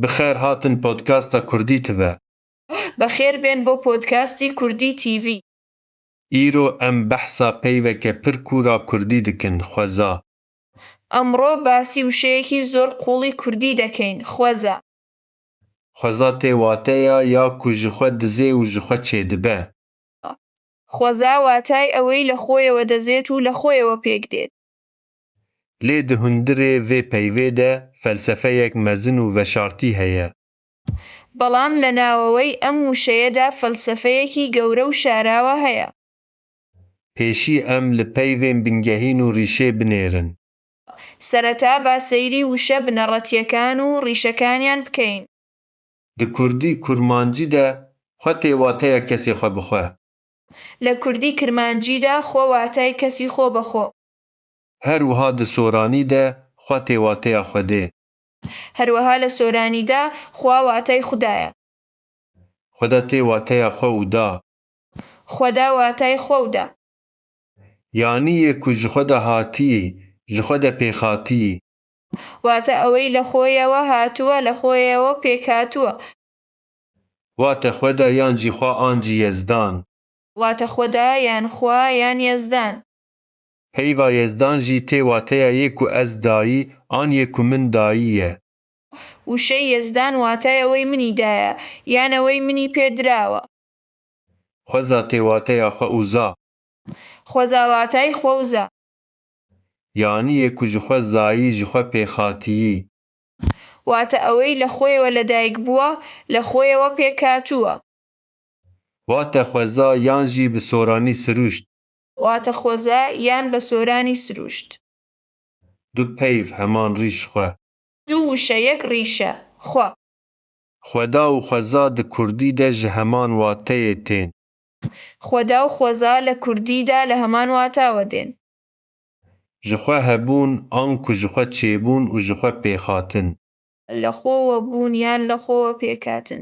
بخیر هاتن پۆدکاستە کوردی تڤ. بەخێر بێن بۆ پۆدکاستی کوردی تیڤی. ئیرۆ ئەم بەحسا پەیڤەکە پر کورا کوردی دکن. خوەزا. ئەمڕۆ باسی وشەیەکی زۆر قوڵی کوردی دەکەین، خوەزا. خوەزا تێ واتەیە یا کو ژخوە دزێ و ژخوە چێ دبە. خوەزا واتای ئەوەی لە خۆیەوە دەزێت و لە خۆیەوە پێک دێت. لێ دهندرێ ڤێ پەیڤێدە فەلسەفەیەک مەزن و ڤەشارتی هەیە. بەڵام لە ناوەوەی ئەم وشەیەدا فەلسەفەیەکی گەورە و شاراوە هەیە. پێشی ئەم لە پەیڤێن بنگەهین و ڕیشێ بنێرن. سەرەتا با سەیری وشە بنەڕەتییەکان و ڕیشەکانیان بکەین. د کوردی کورمانجیدا خوە تێ واتەیە کەسێ خوە بخوە. لە کوردی کرمانجیدا خوە واتای کەسی خۆ بەخۆ. هەر وها دە سۆرانی دە خوا تێ واتەیا خودێ. هەر وها لە سۆرانی دە خوا واتای خودایە. خودا تێ واتەیا خو و دا. خودا واتای خو و دا. یانی یێ کو ژ خودا هاتیی، ژ خودا پێک هاتیی. واتە ئەوەی لە خۆیەوە هاتووە، لە خۆیەوە پێک هاتووە. واتە خودا یان جی خوا ئان جی یەزدان. واتە خودا یان خوا یان یەزدان. هەیڤا یەزدان ژی تێ واتەیە یێ کو ئەز دایی ئان یێ کو من دایی یە. وشەی یەزدان واتای ئەوەی منی دایە یان ئەوەی منی پێ دراوە. خوەزا تێ واتەیە خوە و زا. خوەزا واتای خوە و زا. یانی یێ کو ژ خوە زایی ژ خوە پێ خاتیی. واتە ئەوەی لە خوەیەوە لە دایک بووە لە خوەیەوە پێ کاتووە. واتە خوەزا یان ژی بسۆرانی سروشت. واتە خۆزە یان بە سۆرانی سرووشت. دوو پەیڤ هەمان ڕیش خوە. دوو وشە یەک ڕیشە، خوە. خوەدا و خوەزا دە کوردی دە ژە هەمان واتەێ تێن. خوەدا و خوەزا لە کوردی دا لە هەمان واتاوە دێن. ژە خوە هەبوون ئان کو ژە خوە چێبوون و ژە خوە پێخاتن. لە خوەوە بوون یان لە خوەوە پێکاتن.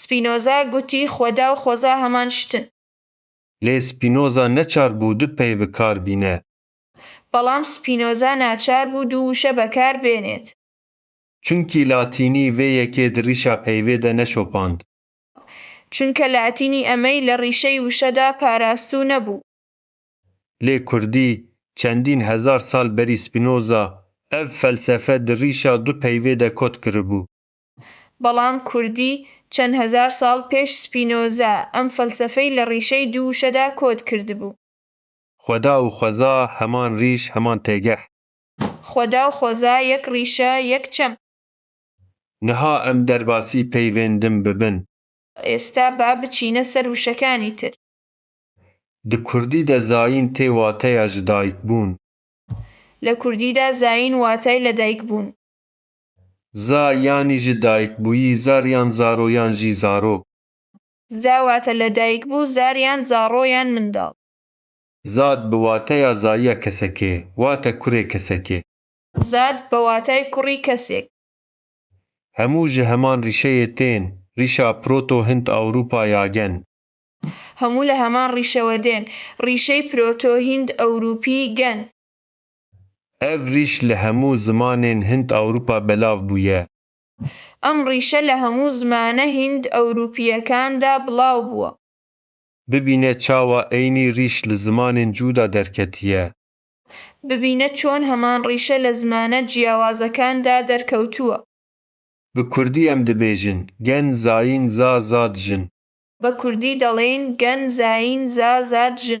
سپینۆزا گوتی، خودا و خۆزا هەمان شتن. لێ سپینۆزا نەچار بوو دو پەی بکار بینێ. بەڵام سپینۆزا ناچار بوو دو وشە بەکار بێنێت. چونکی لاتینی ڤێ یەکێ د ریشا پەیڤێ دە نەشۆپاند. چونکە لاتینی ئەمەی لە ریشەی وشەدا پاراستوو نەبوو. لێ کوردی، چەندین هەزار سال بەری سپینۆزا، ئەڤ فەلسەفە د ریشا دو پەیڤێ دە کۆت کربوو. بەڵام کوردی چەند هەزار ساڵ پێش سپینۆزا ئەم فەلسەفەی لە ڕیشەی دوو وشەدا کۆد کردبوو. خودا و خوەزا هەمان ریش هەمان تێگەه. خودا و خوەزا یەک ریشە یەک چەم. نها ئەم دەرباسی پەیڤندم ببن. ئێستا با بچینە سەر وشەکانی تر. د کوردیدا زاین تێ واتەیە ژدایکبوون. لە کوردیدا زاین واتای لەدایکبوون. زا یانی ژ دایک بووی زار یان زارۆ یان ژی زارۆک. زا واتە لە دایک بوو زار یان زاڕۆ یان منداڵ. زاد بە واتایا زاییە کەسەکێ واتە کورێ کەسەکێ. زاد بە واتای کوڕی کەسێک. هەموو ژ هەمان ریشەێ تێن، ریشا پرۆتۆ هند ئەوروپا یاگەن. هەموو لە هەمان ریشەوە دێن، ریشەی پرۆتۆ هیند ئەوروپی گەن. ئەڤ ریش لە هەموو زمانێن هند ئەوروپا بەلاڤ بویە. ئەم ڕیشە لە هەموو زمانە هیند ئەوروپییەکاندا بڵاو بووە. ببینە چاوا ئەینی ریش لە زمانێن جوودا دەرکەتیە. ببینە چۆن هەمان ڕیشە لە زمانە جیاوازەکاندا دەرکەوتووە. بە کوردی ئەم دبێژن، گەن، زاین، زا، زاد، ژن. بە کوردی دەڵێین، گەن، زاین، زا، زاد، ژن.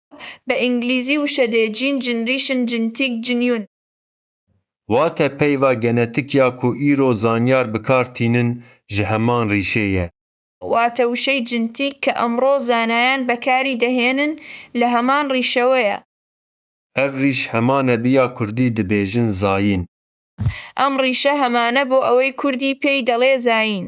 بە ئینگلیزی وشە دێ، جین، جنریشن، جنتیک، جنیون. واتە پەیڤا گەنەتک یا کو ئیرۆ زانیار بکار تینن ژە هەمان ریشێ یە. واتە وشەی جنتیک کە ئەمڕۆ زانایان بە کاری دە هێنن لە هەمان ریشەوە یە. ئەڤ ریش هەمانە بیا کوردی د بێژن زایین. ئەم ریشە هەمانە بۆ ئەوەی کوردی پێی دە ڵێ زایین.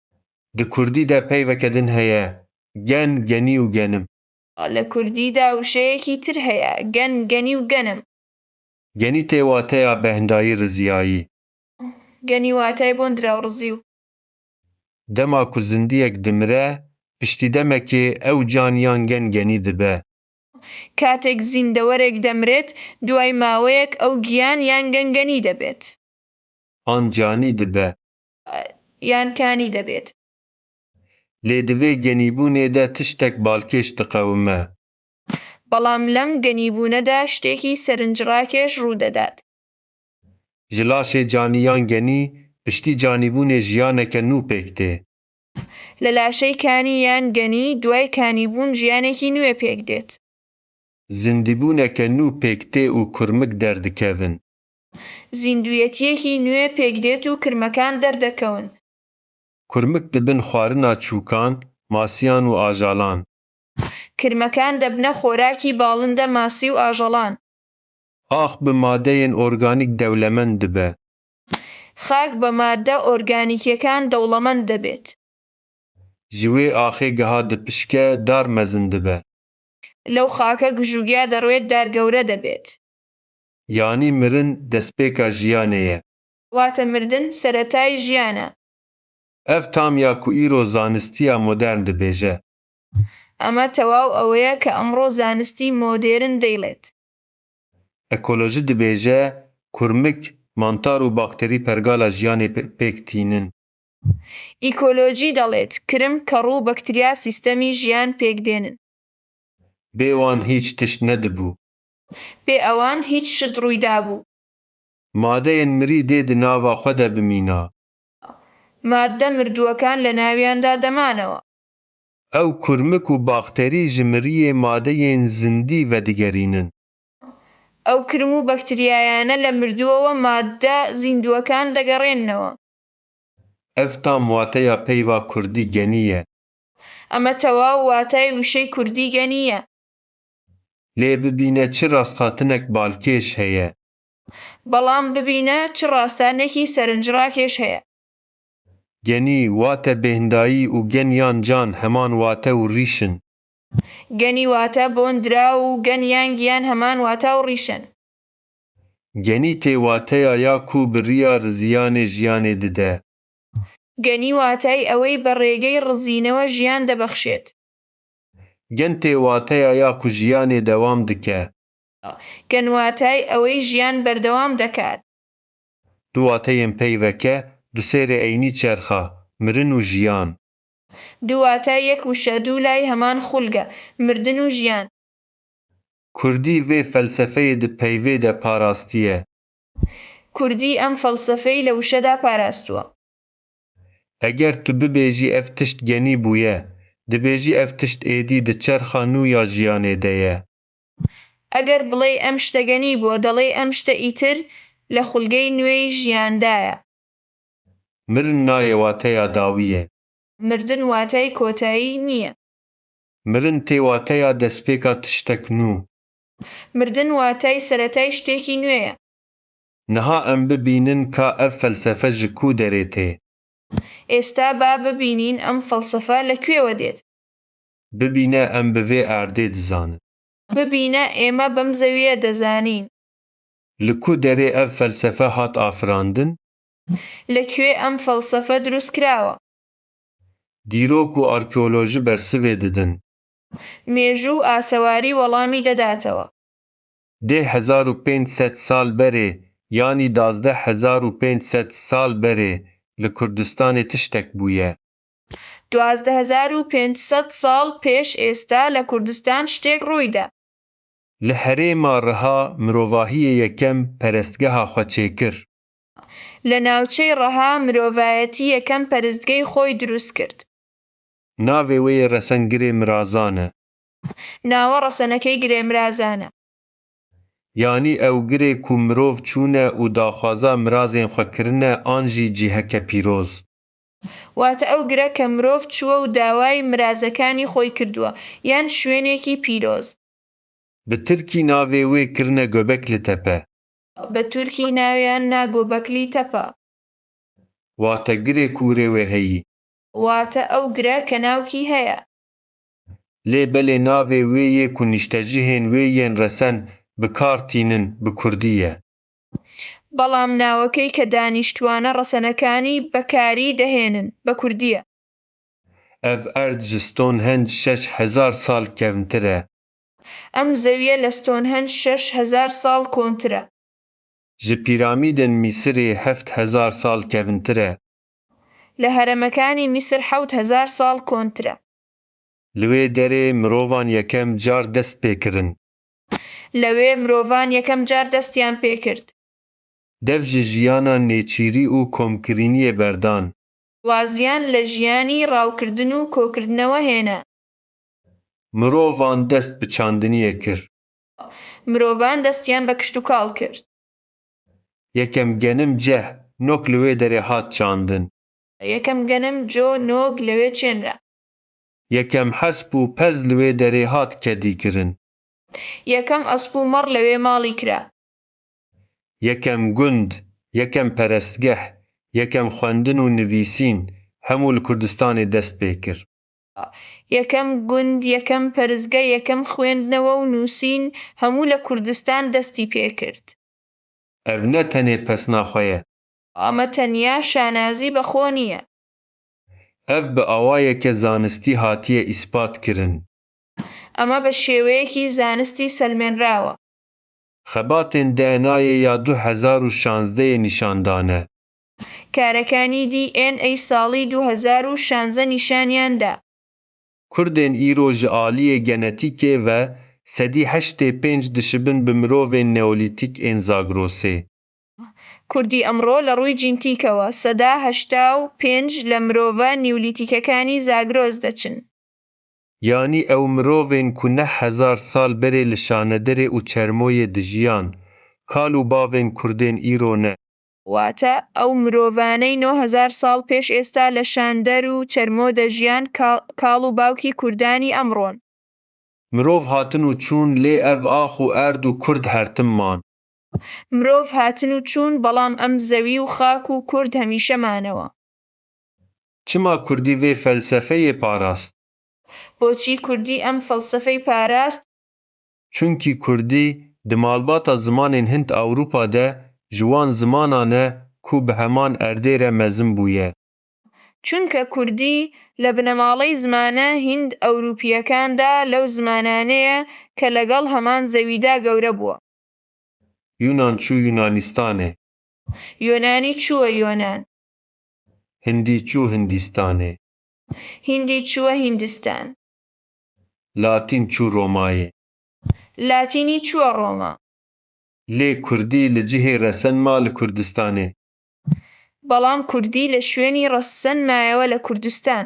دە کوردی دا پەیڤەکەدن هەیە، گەن، گەنی و گەنم. لە کوردی دا وشەیەکی تر هەیە، گەن، گەنی و گەنم. گەنی تێ واتەیا بەهندایی رزیایی. گەنی واتای بۆن دراو رزیو. دەما کو زندیەک دمرە، پشتی دەمەکێ ئەو جان یان گەن گەنی دبە. کاتێک زیندەوەرێک دەمرێت، دوای ماوەیەک ئەو گیان یان گەن گەنی دەبێت. ئان جانی دبە. یان کانی دەبێت. لێ دڤێ گەنیبوونێدا تشتەک باڵکێش دقەومە. بەڵام لەم گەنیبوونەدا شتێکی سەرنجڕاکێش ڕوو دەدات. ژلاشێ جانی یان گەنی، پشتی جانیبوونێ ژیانەکە نووپێک دێ. لە لاشەی کانی یان گەنی دوای کانیبوون ژیانێکی نوێ پێک دێت. زیندبوونەکە نوو پێک دێ و کورمک دەردکەون. زیندوویەتییەکی نوێ پێکدێت و کرمەکان دەردەکەون. کرمک دەبن خوارنا چووکان، ماسیان و ئاژەڵان. کرمەکان دەبنە خۆراکی باڵندە، ماسی و ئاژەڵان. ئاخ بە مادەێن ئۆرگانیک دەولەمەند دبێ. خاک بە مادە ئۆرگانیکیەکان دەوڵەمەند دەبێت. ژ وێ ئاخێ گها دپشکێ دار مەزن دبێ. لەو خاکە گژوگیا دەڕوێت دار گەورە دەبێت. یانی مرن دەسپێکا ژیانێ یە. واتە مردن سەرەتای ژیانە. ئەڤ تامیا کو ئیرۆ زانستیا مۆدەرن دبێژە. ئەمە تەواو ئەوەیە کە ئەمڕۆ زانستی مۆدێرن دەیڵێت. ئەکۆلۆژی دبێژە کورمک، مانتار و باکتری پەرگالا ژیانێ پێک تینن. ئیکۆلۆژی دەڵێت کرم، کەڕ و بەکتریا سیستەمی ژیان پێک دێنن. بێ وان هیچ تشت نەدبوو. بێ ئەوان هیچ شت ڕوویدابوو. مادەێن مری دێ د ناوا خوە دە بمینە. ماددە مردووەکان لە ناویاندا دەمانەوە. ئەو کورمک و باقتەری ژ مریێ مادەێن زندی ڤەدگەرینن. ئەو کرم و بەکتریایانە لە مردووەوە ماددە زیندووەکان دەگەڕێننەوە. ئەڤ تام واتەێا پەیڤا کوردی گەنی یە. ئەمە تەواو واتای وشەی کوردی گەنی یە. لێ ببینە چ ڕاستهاتنەک بالکێش هەیە. بەڵام ببینە چ ڕاستانێکی سەرنجڕاکێش هەیە. گەنی، واتە بێهندایی و گەن یان جان هەمان واتە و ڕیشن. گەنی واتە بۆن دراو و گەن یان گیان هەمان واتا و ڕیشەن. گەنی تێ واتەیە یا کوو بڕیا رزیانێ ژیانێ ددە. گەنی واتای ئەوەی بە ڕێگەی ڕزینەوە ژیان دەبەخشێت. گەنتێ واتەیە یا کو ژیانێ دەوام دکە. گەن واتای ئەوەی ژیان بەردەوام دەکات. دو واتەیێن پەیڤەکە دو سێرێ ئەینی چەرخە، مرن و ژیان. دو واتای یەک وشە دو لای هەمان خولگە، مردن و ژیان. کوردی ڤێ فەلسەفەیێ د پەیڤێ دە پاراستیە. کوردی ئەم فەلسەفەی لە وشەدا پاراستوە. ئەگەر تو ببێژی ئەڤ تشت گەنی بویە، دبێژی ئەڤ تشت ئێدی دچەرخا نو یا ژیانێ دە یە. ئەگەر بڵێی ئەم شتە گەنی بوە، دەڵێی ئەم شتە ئیتر لە خولگەی نوێی ژیان دایە. مرن نایێ واتەیا داویە. مردن واتای کۆتایی نیە. مرن تێ واتەیا دەسپێکا تشتەک نو. مردن واتای سەرەتای شتێکی نوێیە. نها ئەم ببینن کا ئەڤ فەلسەفە ژ کوو دەرێتێ. ئێستا با ببینین ئەم فەلسەفە لە کوێوە دێت. ببینە ئەم بڤێ ئاردێ دزانن. ببینە ئێمە بەم زەویە دەزانین. لە کوو دەرێ ئەڤ فەلسەفە هات ئافراندن؟ لە کوێ ئەم فەلسەفە دروس کراوە؟ دیرۆک و ئارکیۆلۆژ بەرسڤێ ددن؟ مێژوو و ئاسەواری وەڵامی دەداتەوە. دێ هەزار و پێنج سەد سال بەرێ یانی دازدە هەزار و پێنج سەد سال بەرێ لە کوردستانێ چ شتەک بوویە؟ دوازدە هەزار و پێنج سەد سال پێش ئێستا لە کوردستان شتێک ڕووی دا. لە هەرێما ڕها مرۆڤاهیە یەکەم پەرستگەها خوە چێ کر. لە ناوچەی ڕها مرۆڤایەتی یەکەم پەرستگەی خۆی دروست کرد. ناوێ وەێ ڕەسەنگرێ مرازانە. ناوە ڕەسەنەکەی گرێ مرازانە. یانی ئەو گرێ کو مرۆڤ چوونە و داخوازا مرازێن خوە کرنە ئان ژی جیهەکە پیرۆز. واتە ئەو گرە کە مرۆڤ چووە و داوای مرازەکانی خۆی کردووە، یان شوێنێکی پیرۆز. بە ترکی ناوێ وێ کرنە گۆبەکل تەپە. بە تورکی ناوێان نا گۆبەکلی تەپە. واتە گرێ کو ورێ وێ هەیی. واتە ئەو گرە کە ناوکی هەیە. لێ بەلێ ناڤێ وێ یێ کو نیشتەجیهێن وێ یێن رەسەن بە کار تینن بە کوردی یە. بەڵام ناوەکەی کە دانیشتوانە ڕەسەنەکانی بە کاری دەهێنن بە کوردیە. ئەڤ ئەرد ژە ستۆنهەنج شەش هەزار سال کەڤنترە. ئەم زەویە لە ستۆنهەنج شەش هەزار ساڵ کۆنترە. ژە پیرامیدن میسرێ هەفت هەزار ساڵ کەڤنترە. لە هەرەمەکانی میسر حەوت هەزار ساڵ کۆنترە. لوێ دەرێ مرۆڤان یەکەم جار دەست پێ کرن. لەوێ مرۆڤان یەکەم جار دەستیان پێ کرد. دەف ژ ژیانا نێچیری و کۆمکرینیێ بەردان. وازیان لە ژیانی ڕاوکردن و کۆکردنەوە هێنا. مرۆڤان دەست ب چاندنیێ کر. مرۆڤان دەستیان بە کشتوکاڵ کرد. یەکەم گەنم جه نۆک لوێ دەرێ هات چاندن. یەکەم گەنم جۆ نۆگ لەوێ چێنرا. یەکەم حەسپ و پەز لوێ دەرێ هات کەدی گرن. یەکەم ئەسپ و مەڕ لەوێ ماڵی کرا. یەکەم گوند، یەکەم پەرەستگەه، یەکەم خوەندن و نڤیسین هەموو ل کوردستانێ دەست پێ کر. یەکەم گوند، یەکەم پەرسگە، یەکەم خوێندنەوە و نووسین هەموو لە کوردستان دەستی پێ کرد. ئەڤنە تەنێ پەسنا خوەیە، ئەمە تەنیا شانازی بە خۆ نیە. ئەڤ بە ئاوایەکە زانستی هاتیە ئیسپات کرن. ئەمە بە شێوەیەکی زانستی سەلمێنراوە. خەباتێن دە نایێ یا دو هەزار و شانزدە یێ نیشان دانە. کارەکانی دی ئێن ئەی ساڵی دو هەزار و شانزە نیشانیان دا. کوردێن ئیرۆ ژە ئالیێ گەنەتیکێ ڤە سەدی هەشتێ پێنج دشبن بە مرۆڤێن نێۆلیتیک ێن زاگرۆسێ. کوردی ئەمڕۆ لە ڕووی جینتیکەوە سەدا هەشتا و پێنج لە مرۆڤە نیولیتیکەکانی زاگرۆس دەچن. یانی ئەو مرۆڤێن کو نە هەزار سال بەرێ لە شانەدەرێ ئوو چەرمۆیێ دژیان، کال و باڤێن کوردێن ئیرۆ نە. واتە ئەو مرۆڤانەی نۆ هەزار سال پێش ئێستا لە شاندەر و چەرمۆ دەژیان کا، کاڵ و باوکی کوردانی ئەمڕۆن. مرۆڤ هاتن و چوون لێ ئەڤ ئاخ و ئەرد و کورد هەرتم مان. مرۆڤ هاتن و چوون بەڵام ئەم زەوی و خاک و کورد هەمیشە مانەوە. چما کوردی ڤێ فەلسەفە یێ پاراست؟ بۆچی کوردی ئەم فەلسەفەی پاراست؟ چونکی کوردی دە مالباتا زمانێن هند ئاوروپا دە ژ وان زمانانە کوو بە هەمان ئەردێ رە مەزن بوویە. چونکە کوردی لە بنەماڵەی زمانە هند ئەوروپییەکان دا لەو زمانانەیە کە لە گەڵ هەمان زەویدا گەورە بووە. یونان چوو یونانیستانێ. یۆنانی چووە یۆنان. هندی چوو هندیستانێ. هیندی چووە هیندستان. لاتین چوو رۆمایێ. لاتینی چووە رۆما. لێ کوردی لە جهێ رەسەن ما لە کوردستانێ. بەڵام کوردی لە شوێنی رەسەن مایەوە لە کوردستان.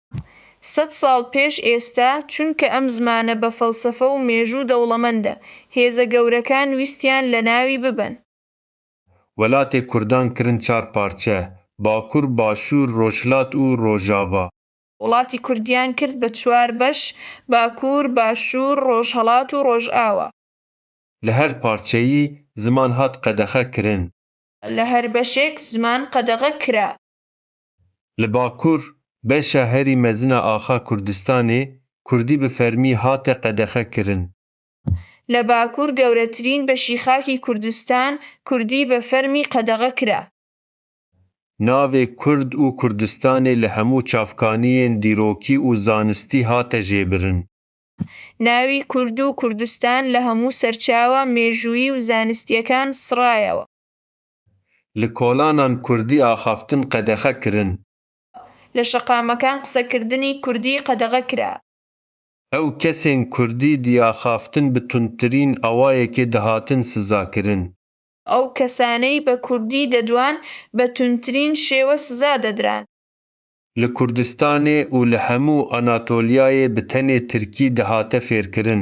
سەد ساڵ پێش ئێستا، چونکە ئەم زمانە بە فەلسەفە و مێژوو دەوڵەمەندە، هێزە گەورەکان ویستیان لەناوی ببەن. وەلاتێ کوردان کرن چار پارچە، باکور، باشور، رۆژهلات و رۆژاڤا. وڵاتی کوردیان کرد بە چوار بەش، باکور، باشور، رۆژهەڵات و رۆژئاوا. لە هەر پارچەیی، زمان هات قەدەخە کرن. لە هەر بەشێک، زمان قەدەغە کرا. لە باکوور بەشە هەری مەزنە ئاخا کوردستانێ کوردی بە فەرمی هاتە قەدەخە کرن. لە باکوور گەورەترین بەشی خاکی کوردستان کوردی بە فەرمی قەدەغە کرا. ناوێ کورد و کوردستانێ لە هەموو چاڤکانیێن دیرۆکی و زانستی هاتە ژێبرن. ناوی کورد و کوردستان لە هەموو سەرچاوە مێژوویی و زانستیەکان سڕایەوە. لە کۆلانان کوردی ئاخافتن قەدەخە کرن. لە شەقامەکان قسەکردنی کوردی قەدەغە کرا. ئەو کەسێن کوردی دی ئاخافتن بە توندترین ئاوایەکێ دەهاتن سزا کرن. ئەو کەسانەی بە کوردی دەدوان بە توندترین شێوە سزا دەدران. لە کوردستانێ و لە هەموو ئاناتۆلیایێ بە تەنێ ترکی دەهاتە فێرکرن.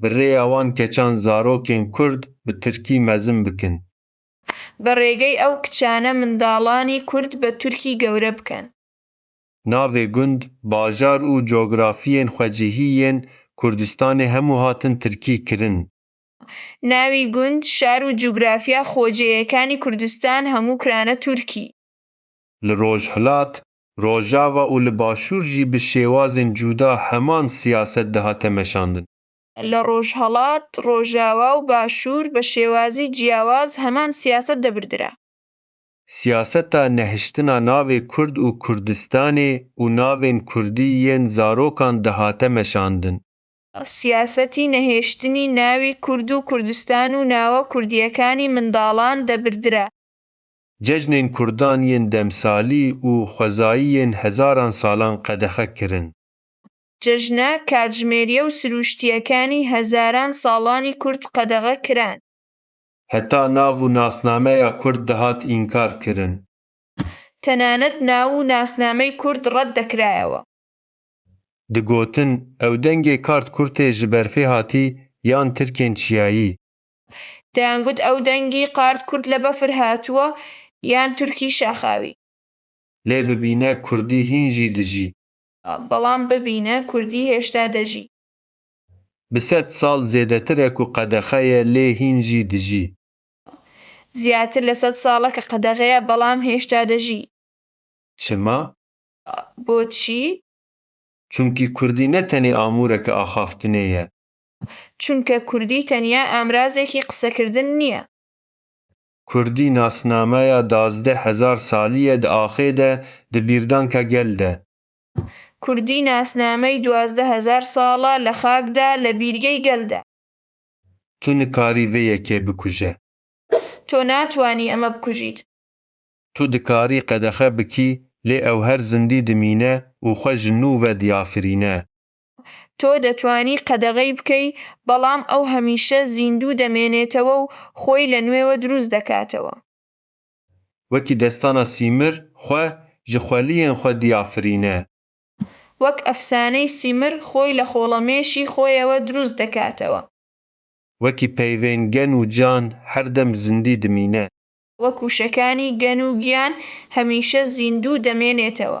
بە رێ ئەوان کەچان زارۆکێن کورد بە ترکی مەزن بکن. بە رێگەی ئەو کچانە منداڵانی کورد بە تورکی گەورە بکەن. ناوێ گوند، باژار ئوو جۆگرافیێن خوەجیهی یێن کوردستانێ هەموو هاتن ترکی کرن. ناوی گوند، شار و جوگرافیا خوەجێیێکانی کوردستان هەموو کرانە تورکی. لە رۆژهەلات ڕۆژاڤا و لە باشوور ژی بە شێوازێن جودا هەمان سیاسەت دەهاتە مەشاندن. لە ڕۆژهەڵات، ڕۆژاوا و باشوور بە شێوازی جیاواز هەمان سیاسەت دەبردرا. سیاسەتا نەهشتنا ناوێ کورد و کوردستانێ و ناوێن کوردی یێن زارۆکان دەهاتە مەشاندن. سیاسەتی نەهێشتنی ناوی کورد و کوردستان و ناوە کوردییەکانی منداڵان دەبردرا. جەژنێن کوردان یێن دەمسالی و خوەزایی یێن هەزاران سالان قەدەخە کرن. جەژنە کاتژمێریە و سرووشتیەکانی هەزاران ساڵانی کورد قەدەغە کران. هەتا ناو و ناسنامەێا کورد دەهات ئینکار کرن. تەنانەت ناو و ناسنامەی کورد ڕەد دەکرایەوە. دگۆتن، ئەودەنگێ کارت کورتێ ژ بەرفێ هاتی یان ترکێن چیایی. دەیانگوت ئەو دەنگی قارد کورد لە بەفر هاتووە یان تورکی شاخاوی. لێ ببینە کوردی هینژی دژی. بەڵام ببینە کوردی هێشتا دەژی. بە سەد ساڵ زێدەترە کو قەدەخەیە لێ هینژی دژی. زیاتر لە سەد ساڵە کە قەدەغەیە بەڵام هێشتا دەژی. چما؟ بۆچی؟ چونکی کوردی نە تەنێ ئاموورە کە ئاخافتنێیە. چونکە کوردی تەنیا ئامرازێکی قسەکردن نییە. کوردی ناسنامەیە دازدە هەزار سالییە دە ئاخێ دە دە بیردان کە گەل دە. کوردی ناسنامەی دوازدە هەزار ساڵە لە خاک دا لە بیرگەی گەل دە. تو نکاری ڤێ یەکێ بکوژە. تۆ ناتوانی ئەمە بکوژیت. تو دکاری قەدەخە بکی لێ ئەو هەر زندی دمینە و خوە ژنوو ڤە دیافرینە. تۆ دەتوانی قەدەغەی بکەی، بەڵام ئەو هەمیشە زیندوو دەمێنێتەوە و خۆی لە نوێوە دروست دەکاتەوە. وەکی دەستانا سیمر خوە ژە خوەلیێن خوە دیافرینە. وەک ئەفسانەی سیمر خۆی لە خۆڵەمێشی خۆیەوە دروست دەکاتەوە. وەکی پەیڤێن گەن و جان هەر دەم زندی دمینە. وەک وشەکانی گەن و گیان هەمیشە زیندوو دەمێنێتەوە.